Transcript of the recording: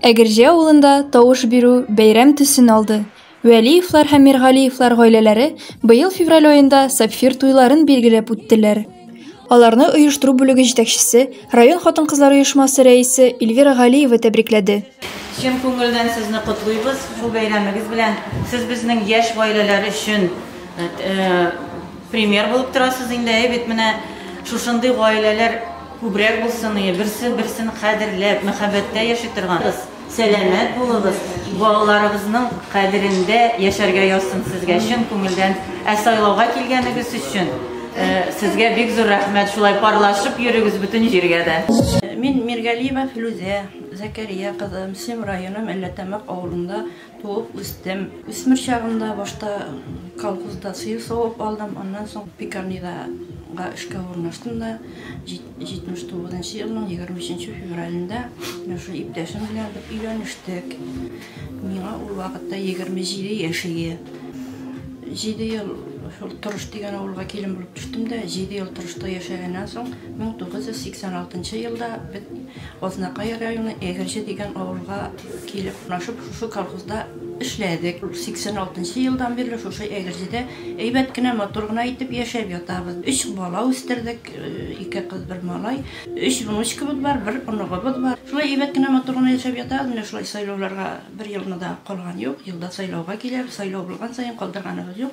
Әгерҗе авылында тавыш бирү бәйрәм төсен алды. Вәлиевлар һәм Миргалиевлар гаиләләре быел февраль аенда сапфир туйларын билгеләп үттеләр. Аларны оештыру бүлеге җитәкчесе, район хатын-кызлар оешмасы рәисе Эльвира Галиева тәбрикләде. Чын күңелдән сезне котлыйбыз бу бәйрәмегез белән. Сез безнең яшь гаиләләр өчен Пример булып торасыз инде, әй бит менә шушындый гаиләләр күбрәк булсын, и, берсе берсен кадерләп, мәхәббәттә яши торган. Сәламәт булыгыз, балаларыгызның кадерендә яшәргә язсын сезгә чын күңелдән, ә сайлауга килгәнегез өчен сезгә бик зур рәхмәт, шулай парлашып йөрегез бөтен җиргә дә. Мин Миргалиева Филүзә Зәкәрия кызы, Мсем районы Мәлләтәмәк авылында Туып үстем. Үсмер чагымда башта колхозда сыер савып алдым, аннан соң пекарнидага эшкә урнаштым да, 79 нчы елның 23 нче февралендә менә шул иптәшем белән бер өйләнештек. Миңа ул вакытта 27 яшь иде. Җиде ел шул Торыш дигән авылга килен булып төштем дә, җиде ел Торышта яшәгәннән соң, 1986 елда без Азнакай районы Әгерҗе дигән авылга Килеп урнашып, шушы колхозда эшләдек. 86 нчы елдан бирле шушы Әгерҗедә әйбәт кенә, матур гына итеп яшәп ятабыз. Өч бала үстердек, ике кыз, бер малай. Өч внучкабыз бар, бер оныгыбыз бар. Шулай әйбәт кенә, матур гына яшәп ятабыз. Менә шулай сайлауларга бер елны да калган юк. Елда сайлауга киләбез. Сайлау булган саен калдырганыбыз юк.